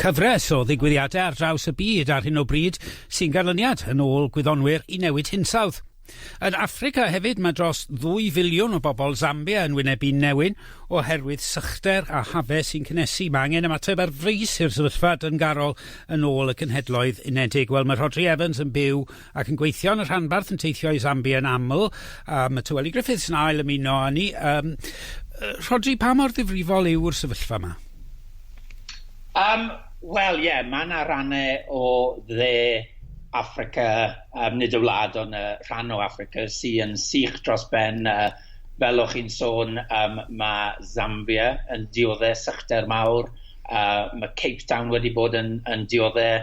Cyfres o ddigwyddiadau ar draws y byd ar hyn o bryd sy'n ganlyniad, yn ôl gwyddonwyr, i newid hinsawdd. Yn Affrica hefyd mae dros ddwy filiwn o bobl Zambia yn wynebu newyn oherwydd sychder a hafau sy'n cynnesu. Mae angen ymateb ar frys i'r sefyllfa dyngarol, yn ôl y Cenhedloedd Unedig. Wel, mae Rhodri Evans yn byw ac yn gweithio yn y rhanbarth yn teithio i Zambia yn aml, a mae Tyweli Griffiths yn ail ymuno â ni. Um, Rhodri, pa mor ddifrifol yw'r sefyllfa yma? Um, Wel, ie, yeah, mae yna rannau o dde Africa, um, nid y wlad, ond y rhan o Africa sy'n sych dros ben. Uh, fel o'ch chi'n sôn, um, mae Zambia yn dioddau sychder mawr, uh, mae Cape Town wedi bod yn, yn dioddau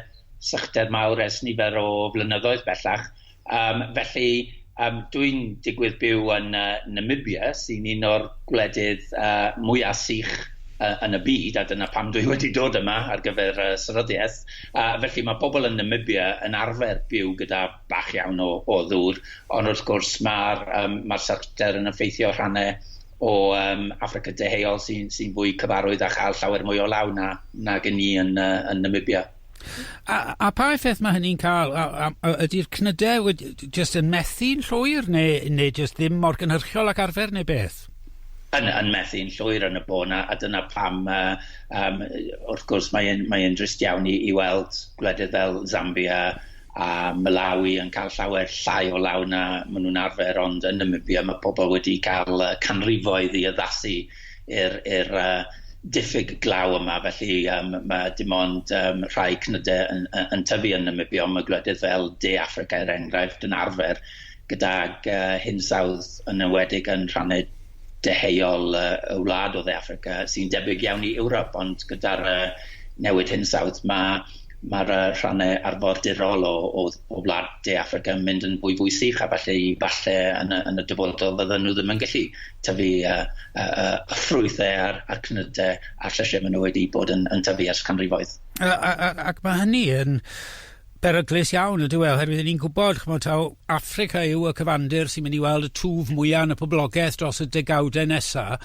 sychder mawr ers nifer o flynyddoedd bellach, yym felly yym dwi'n digwydd byw yn yy Namibia sy'n un o'r gwledydd yy mwya' sych yy yn y byd a dyna pam dwi wedi dod yma ar gyfer y seryddiaeth a felly ma' pobol yn Namibia yn arfer byw gyda bach iawn o o ddŵr ond wrth gwrs ma'r yym ma'r sychder yn effeithio rhanne o um, Africa Deheuol sy'n sy fwy cyfarwydd a chael llawer mwy o law na, nag yn ni yn, uh, yn Namibia. A, a pa effaith mae hynny'n cael? Ydy'r cnydau jyst yn methu'n llwyr neu, neu jyst ddim mor gynhyrchiol ac arfer neu beth? yn, yn methu'n llwyr yn y bôn a, a dyna pam uh, um, wrth gwrs mae'n mae drist iawn i, i weld gwledydd fel Zambia a Malawi yn cael llawer llai o law na maen nhw'n arfer, ond yn Namibia mae pobl wedi cael uh, canrifoedd i addasu i'r uh, diffyg glaw yma, felly um, mae dim ond um, rhai cnydau yn, yn, yn tyfu yn Namibia, ond mae gwledydd fel De Africa er enghraifft yn arfer gydag hinsawdd yn enwedig yn rhannau deheuol y wlad o Dde Affrica, sy'n debyg iawn i Ewrop, ond gyda'r newid hinsawdd mae mae'r rhannau arfordirol o o o wlad De Affrica yn mynd yn fwy fwy sych, a falle i falle yn y yn y dyfodol fydden nhw ddim yn gallu tyfu y y y y ffrwythau a'r a'r cnydau a'r llysie maen nhw wedi bod yn yn tyfu ers canrifoedd. A a a ac mae hynny yn Beryglus iawn ydyw e, oherwydd i ni'n gwybod, ch'mod, taw Affrica yw y cyfandir sy'n mynd i weld y twf mwya' yn y poblogeth dros y degawde nesa',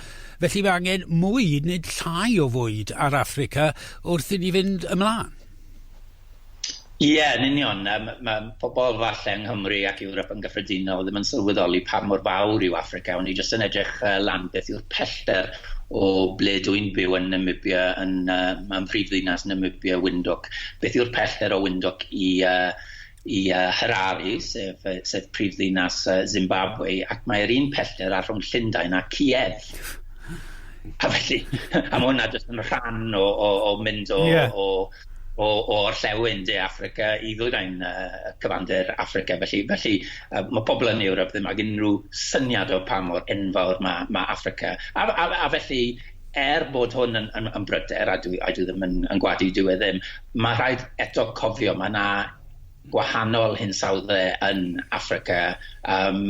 felly mae angen mwy, nid llai o fwyd ar Affrica wrth i ni fynd ymlan. Ie, yn union. Yym, mae pobl falle yng Nghymru ac Ewrop yn gyffredinol ddim yn sylweddoli pa mor fawr yw Affrica. O'n i jyst yn edrych lan beth yw'r pellter o ble dw i'n byw yn Namibia yn yy yn mhrifddinas Namibia Windhoek. Beth yw'r pellter o Windhoek i yy i yy Harare sef yy sef prifddinas yy Zimbabwe ac mae'r un pellter a rhwng Llundain a Kiev. A felly a ma' hwnna jyst yn rhan o o o mynd o... Ie. ...o o o orllewin De Affrica i ddwyrain yy y cyfandir Affrica felly felly yy ma' pobol yn Ewrop ddim ag unrhyw syniad o pa mor enfawr ma' ma' Affrica a f- a f- a felly er bod hwn yn yn yn bryder a dwi a dwi ddim yn yn gwadu dyw e ddim ma' rhaid eto cofio ma' 'na gwahanol hinsawdde yn Affrica yym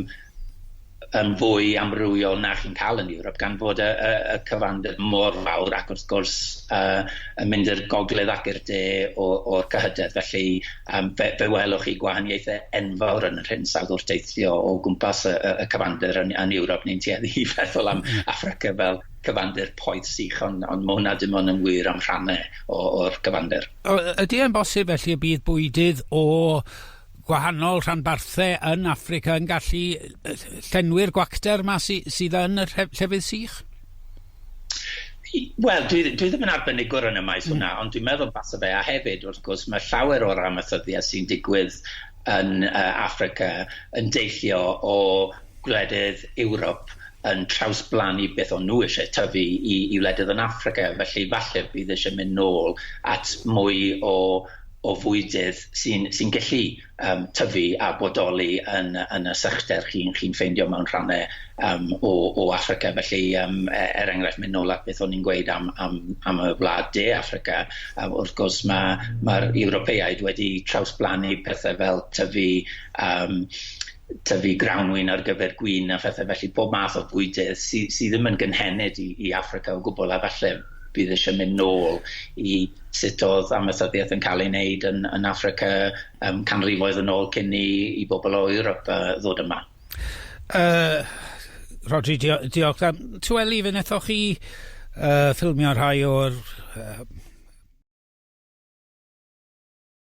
yn fwy amrywiol na chi'n cael yn Ewrop gan fod y y y cyfandir mor fawr ac wrth gwrs yy yn mynd i'r gogledd ac i'r de o o'r cyhydedd felly yym fe fe welwch chi gwahaniaethe enfawr yn yr hinsawdd wrth deithio o gwmpas y y y cyfandir yn yn Ewrop neu'n tueddu i feddwl am Affrica fel cyfandir poeth sych on' on' ma' hwnna dim ond yn wir am rhanne o o'r cyfandir. O- yy ydi e'n bosib felly y bydd bwydydd o gwahanol rhanbarthau yn Affrica yn gallu llenwi'r gwacter yma sy, sydd yn y llefydd sych? Wel, dwi, dwi ddim yn arbenigwr yn y maes mm. hwnna, ond dwi'n meddwl basa fe, a hefyd, wrth gwrs, mae llawer o'r amaethyddiaeth sy'n digwydd yn uh, Africa yn deillio o gwledydd Ewrop yn trawsblannu beth o'n nhw eisiau tyfu i, i wledydd yn Africa, felly falle bydd eisiau mynd nôl at mwy o o fwydydd sy'n sy'n gallu yym tyfu a bodoli yn yn y sychder chi'n chi'n ffeindio mewn rhannau yym o o Affrica felly yym e- er enghraifft mynd nôl at beth o'n i'n gweud am am am y wlad de Affrica a wrth gwrs ma' ma'r Ewropeaid wedi trawsblannu pethe fel tyfu yym tyfu grawnwin ar gyfer gwin a phethe felly pob math o fwydydd sy sy ddim yn gynhenid i i Affrica o gwbwl a falle bydd eisiau mynd nôl i sut oedd amaethyddiaeth yn cael ei wneud yn, yn Africa um, canrifoedd yn ôl cyn i, i bobl o Ewrop uh, ddod yma. Uh, Rodri, dio diolch. Um, tu Eli, fe nethoch chi uh, ffilmio rhai o'r uh,